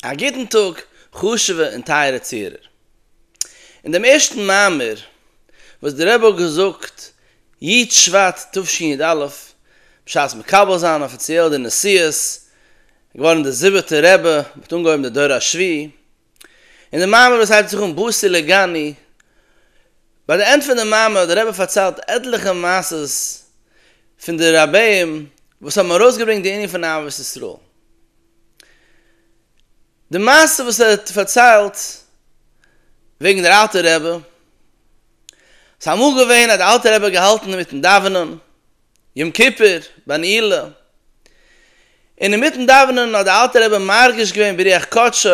א גוטן טאג חשוב'ע און טייערע צוהערער. אין דעם ערשטן מאמר וואס דער רבי האט געזאגט י ט שבט תשפ ד בשעת מקבל זיין אפיציעל די נשיאות, געווארן דער זיבעטער רבי, מען האט אנגעהויבן די דור השביעי, און די מאמר וואס הייבט זיך אן בוסי לגני, ביי די ענד פון די מאמר האט דער רבי פארציילט עטליכע מעשות פון די רביים וואס האבן ארויסגעברענגט די ענין פון אהבת ישראל. די מעשה וואס ער האט פארציילט וועגן דער אלטער רבי, ס'איז אמאל געווען אז דער אלטער רבי האט געהאלטן אינמיטן דאווענען יום כיפור ביי נעילה, און אינמיטן דאווענען האט דער אלטער רבי מרגיש געווען ברוח קדשו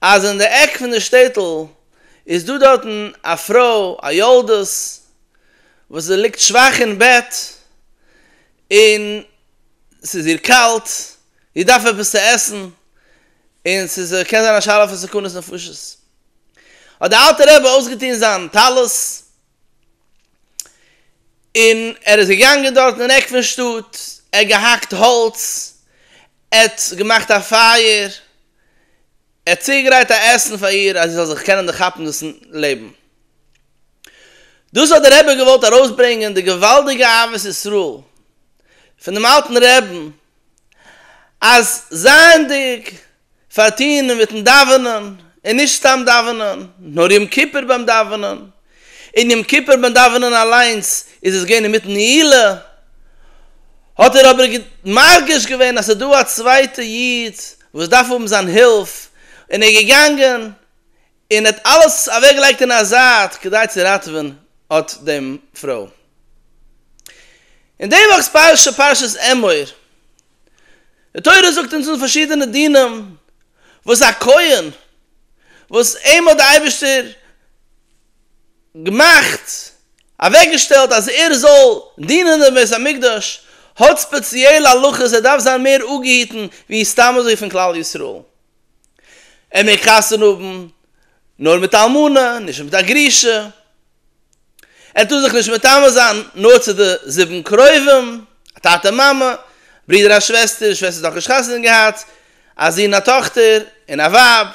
אז אין די עק פון די שטעטל איז דא דארטן א פרוי א יולדות וואס זי ליגט שוואך אין בעט, און ס'איז איר קאלט, זי דארף עפעס צו עסן, און ס'איז קען זיין א שאלה פון סכנת נפשות. האט דער אלטער רבי אויסגעטון זיין טלית, און ער איז געגאנגען דארטן אין עק פון שטאט, ער האט געהאקט האלץ, ער האט געמאכט א פייער, ער האט צוגעגרייט א עסן פאר איר אז זי זאל זיך קענען דערכאפן דאס לעבן. דאס האט דער רבי געוואלט ארויסברענגען די געוואלדיגע אהבת ישראל פון דעם אלטן רעבן, אז זייענדיג פארטוהן אינמיטן דאווענען, און נישט סתם דאווענען, נאר יום כיפור ביים דאווענען, און יום כיפור ביים דאווענען אליינס איז עס געווען אינמיטן נעילה, האט ער אבער מרגיש געווען אז ס'איז דא א צווייטע איד וואס דארף האבן זיין הילף, און ער איז געגאנגען און האט אלעס אוועק געלייגט אין א זייט כדי צו ראטעווען אט דעם פרוי. אין די וואכ'ס פרשה, פרשת אמור, די תורה זאגט אונז אן פארשידענע דינים וואס א כהן וואס אים האט די אייבערשטער געמאכט, אוועק געשטעלט אז ער זאל דינען אין בית המקדש, האט ספעציעלע הלכות, ער דארף זיין מער אפגעהיטן ווי סתם אזוי פון כלל ישראל. ער מעג חתונה האבן נאר מיט א אלמנה, נישט מיט א גרושה, ער טאר זיך נישט מטמא זיין נאר צו די זיבן קרובים, א טאטע מאמע, א ברודער א שוועסטער, די שוועסטער האט נאכנישט חתונה געהאט, א זון א טאכטער, און א ווייב.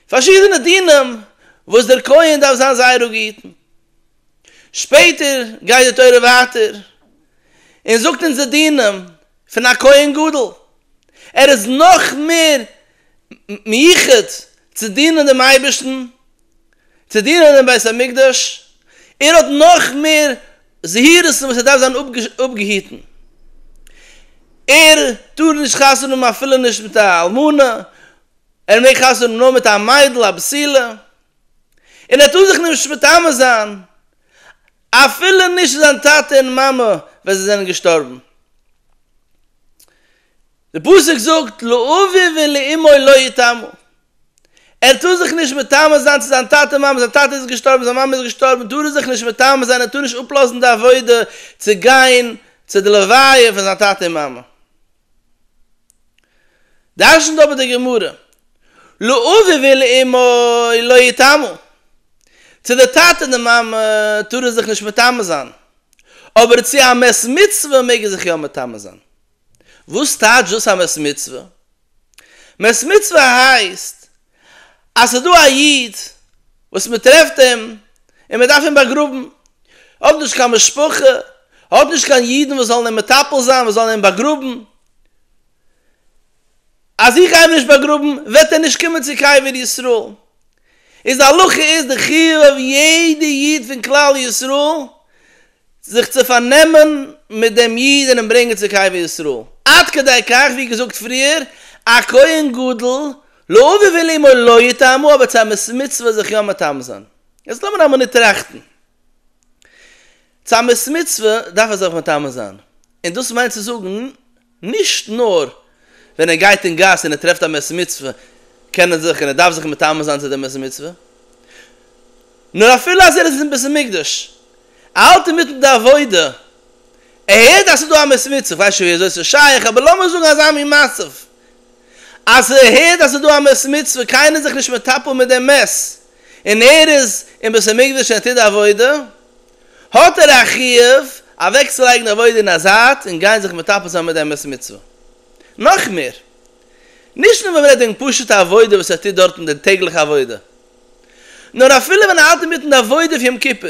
פארשידענע דינים וואס דער כהן דארף זיין זייער א גוטן. שפעטער גייט די תורה ווייטער און זאגט אונז די דינים פון א כהן גדול, ער איז נאך מער מיוחד צו דינען דעם אייבערשטן, צו דינען אין בית המקדש, ער האט נאך מער זהירות'ן וואס ער דארף זיין אפגעהיטן, ער טאר נישט חתונה האבן אפילו נישט מיט א אלמנה, ער מעג חתונה האבן נאר מיט א מיידל א בסילה, און ער האט אן זיך נישט מטמא זיין אפילו נישט צו זיין טאטע און מאמע ווען זיי זענען געשטארבן. די פסוק זאגט לאביו ולאמו לא יטמא, ער האט אן זיך נישט מטמא זיין צו זיין טאטע און מאמע, זיין טאטע איז געשטארבן, זיין מאמע איז געשטארבן, טאר ער זיך נישט מטמא זיין, ער טאר נישט אפלאזן די עבודה צו גיין צו די לוויה פון זיין טאטע און מאמע. דרש'נט אבער די גמרא, לא אבי ולא אמי לא יטעמו, צו די טאטע און די מאמע טאר ער זיך נישט מטמא זיין, אבער צו א מת מצוה מעג ער זיך יא מטמא זיין. וואס טייטש דאס א מת מצוה? מת מצוה הייסט אז ס'איז דא א איד וואס מ'טרעפט אים און מ'דארף אים באגראבן, האט נישט קיין משפחה, האט נישט קיין אידן וואס זאלן אים מטפל זיין, וואס זאלן אים באגראבן, אז איך גיי אים נישט באגראבן וועט ער נישט קומען צו קבר ישראל, איז די הלכה איז די חיוב אויף יעדע איד פון כלל ישראל זיך צו פארנעמען מיט דעם איד און אים ברענגען צו קבר ישראל, עד כדי כך ווי געזאגט פריער, א כהן גדול לא אביו אלא אמו לא יטעמו, אבער צו א מת מצוה זיך יא מטמא זיין. יעצט לאמיר א מינוט טראכטן, צו א מת מצוה דארף ער זיך מטמא זיין, און דאס מיינט צו זאגן, נישט נאר ווען ער גייט אין גאס און ער טרעפט א מס מצוה קען ער זיך און ער דארף זיך מטמא זיין צו די מס מצוה, נאר אפילו אז ער איז אין בית המקדש, ער האלט אינמיטן די עבודה, ער הערט אז ס'איז דא א מס מצוה, כ'ווייס נישט ווי אזוי ס'איז שייך, אבער לאמיר זאגן אזא מין מצב, אז ער הערט אז ס'איז דא א מס מצוה, קיינער איז זיך נישט מטפל מיט די מס, און ער איז אין בית המקדש און ער טוט די עבודה, האט ער א חיוב אוועקצולייגן די עבודה אין א זייט און גיין זיך מטפל זיין מיט די אמת מצוה. נאך מער, נישט נאר ווען מ'רעדט וועגן פשוט'ע עבודה וואס ער טוט דארטן די טעגליכע עבודה, נאר אפילו ווען ער האלט אינמיטן די עבודה פון יום כיפור,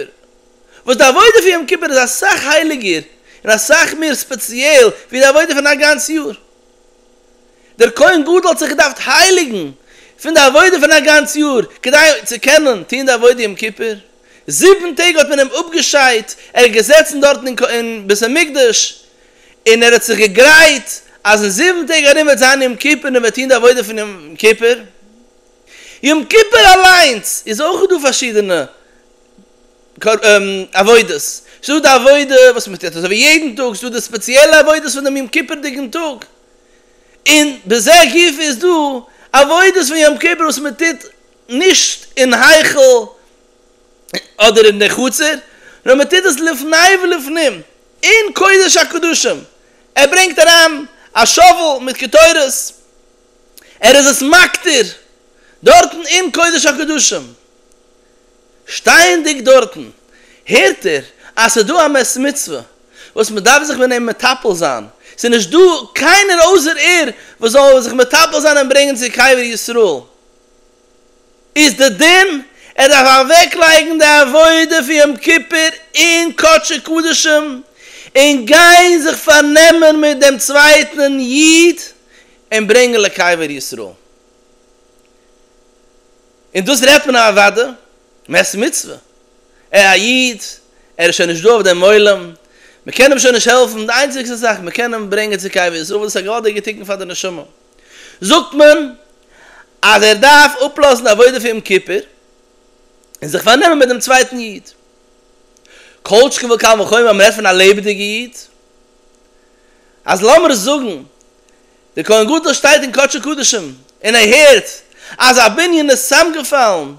וואס די עבודה פון יום כיפור איז אסאך הייליגער און אסאך מער ספעציעל ווי די עבודה פון א גאנץ יאר. דער כהן גדול האט זיך געדארפט הייליגן פון די עבודה פון א גאנץ יאר כדי צו קענען טון די עבודה יום כיפור. זיבן טעג האט מען אים אפגעשיידט, ער איז געזעצן דארטן אין בית המקדש, און ער האט זיך געגרייט אז אין זיבן טעג ארום וועט זיין יום כיפור און ער וועט טון די עבודה פון יום כיפור. יום כיפור אליינס איז אויך דא פארשידענע עבודות, ס'איז דא די עבודה וואס מען טוט אזוי ווי יעדן טאג, ס'איז דא די ספעציעלע עבודות פון דעם יום כיפור'דיגן טאג, און בזה גופא איז דא עבודות פון יום כיפור וואס מען טוט נישט אין היכל אדער אין די חצר, נאר מען טוט עס לפני ולפנים, אין קודש הקדשים, ער ברענגט אריין א שאוול מיט קטורת, ער איז עס מקטיר דארטן אין קודש הקדשים, שטייענדיג דארטן הערט ער אז ס'איז דא א מס מצוה וואס מען דארף זיך מיט אים מטפל זיין, ס'איז נישט דא קיינער אויסער ער וואס זאל זיך מטפל זיין אים ברענגען צו קבר ישראל. איז די דין ער דארף אוועק לייגן די עבודה פון יום כיפור אין קדשי קדשים און גיין זיך פארנעמען מיט דעם צווייטן איד און ברענגן לקבר ישראל און דאס רעדט מען אוודאי מעת מצוה ער א איד ער איז שוין נישט דא אויף דעם עולם מען קען אים שוין נישט העלפן די איינציגסטע זאך מען קען אים ברענגען צו קבר ישראל וואס איז א געוואלדיגע תיקון פאר די נשמה. זאגט מען אז ער דארף אפלאזן עבודה פון יום כיפור און זיך פארנעמען מיט דעם צווייטן איד, כל שכן וקל וחומר ווען מען רעדט פון א לעבעדיגע איד, אז לאמיר זאגן דער כהן גדול שטייט אין קדשי קדשים און ער הערט אז א בנין איז צוזאמגעפאלן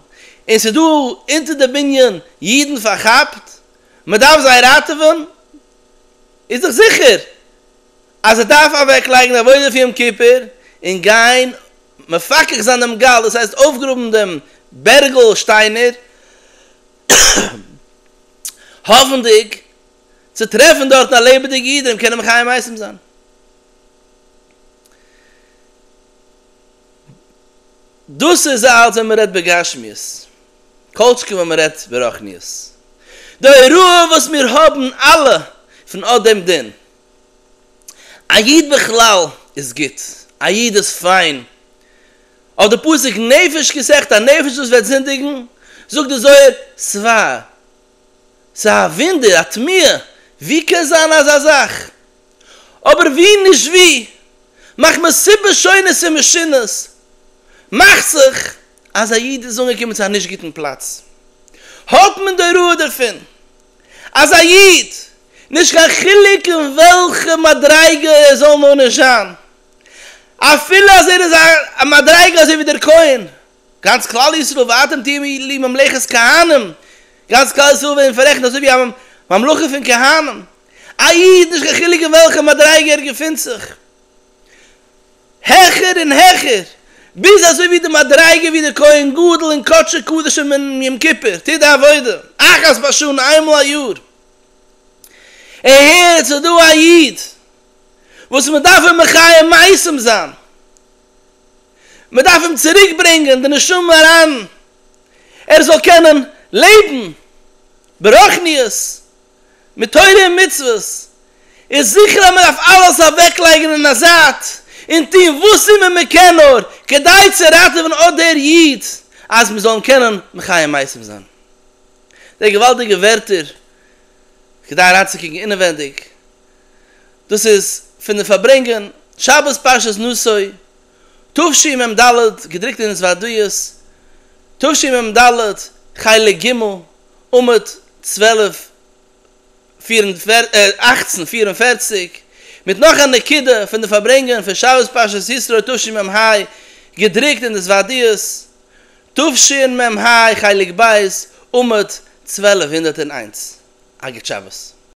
און ס'איז דא אונטער די בנין אידן פארכאפט, מען דארף זיי ראטעווען, איז דאך זיכער אז ער דארף אוועק לייגן די עבודה פון יום כיפור און גיין מפקח זיין דעם גל דאס הייסט אויפגראבן דעם בערגל שטיינער האפנדיג צו טרעפן דארטן א לעבעדיגע איד און אים קענען מחיה מתים זיין דאס איז אלס ווען מען רעדט בגשמיות כל שכן ווען מען רעדט ברחניות די הוראה וואס מיר האבן אלע פון אט דעם דין א איד בכלל איז גוט, א איד איז פיין. אויף די פסוק נפש כסחת הנפש וואס וועט זינדיגן, זאגט די זוהר סבר, ס'איז א וואונדער, א תמיה, ווי קען זיין אזא זאך? אבער ווי נישט ווי, מחמת סיבות שונות ומשונות, מאכט זיך אז א איד איז אנגעקומען צו א נישט גוטן פלאץ, האט מען די הוראה דערפון אז א איד, נישט קיין חילוק אין וועלכע מדריגה ער זאל נאר נישט זיין, אפילו אז ער איז א מדריגה אזוי ווי דער כהן, גאנץ כלל ישראל ואתם תהיו לי ממלכת כהנים, גאנץ כלל ישראל ווערן פאררעכנט אזוי ווי א ממלכה פון כהנים, א איד נישט קיין חילוק אין וועלכע מדריגה ער געפינט זיך, העכער און העכער, ביז אזוי ווי די מדריגה ווי דער כהן גדול אין קדשי קדשים אום יום כיפור טוט די עבודה אחת בשנה איינמאל א יאר. און הערט, ס'איז דא א איד וואס מען דארף אים מחי' מייסם זיין, מען דארף אים צוריק ברענגען די נשמה אריין ער זאל קענען לעבן ברוחניות מיט תורה און מצוות, איז זיכער אז מען דארף אלעס אוועקלייגן אין א זייט און טון וואס אימער מען קען נאר כדי צו ראטעווען אט דער איד אז מיר זאלן קענען מחיי מייסורים זיין. די געוואלדיגע ווערטער כדי אריינצוקוקן אינעווענדיג, דאס איז פון די פארברענגען שבת פרשת נשא תשמ ד, געדרוקט אין זווערדיות, תשמ ד, חלק ג', עמוד צוועלף אַכצן פֿיר און פֿערציק, מיט נאך א נקודה פון די פארברענגען פון שבת פרשת ישרוי תשמ ה, געדרוקט אין די זווערדיות, תשמ ה, חלק ב', עמוד צוועלף הונדערט און איינס, אגרת שבת.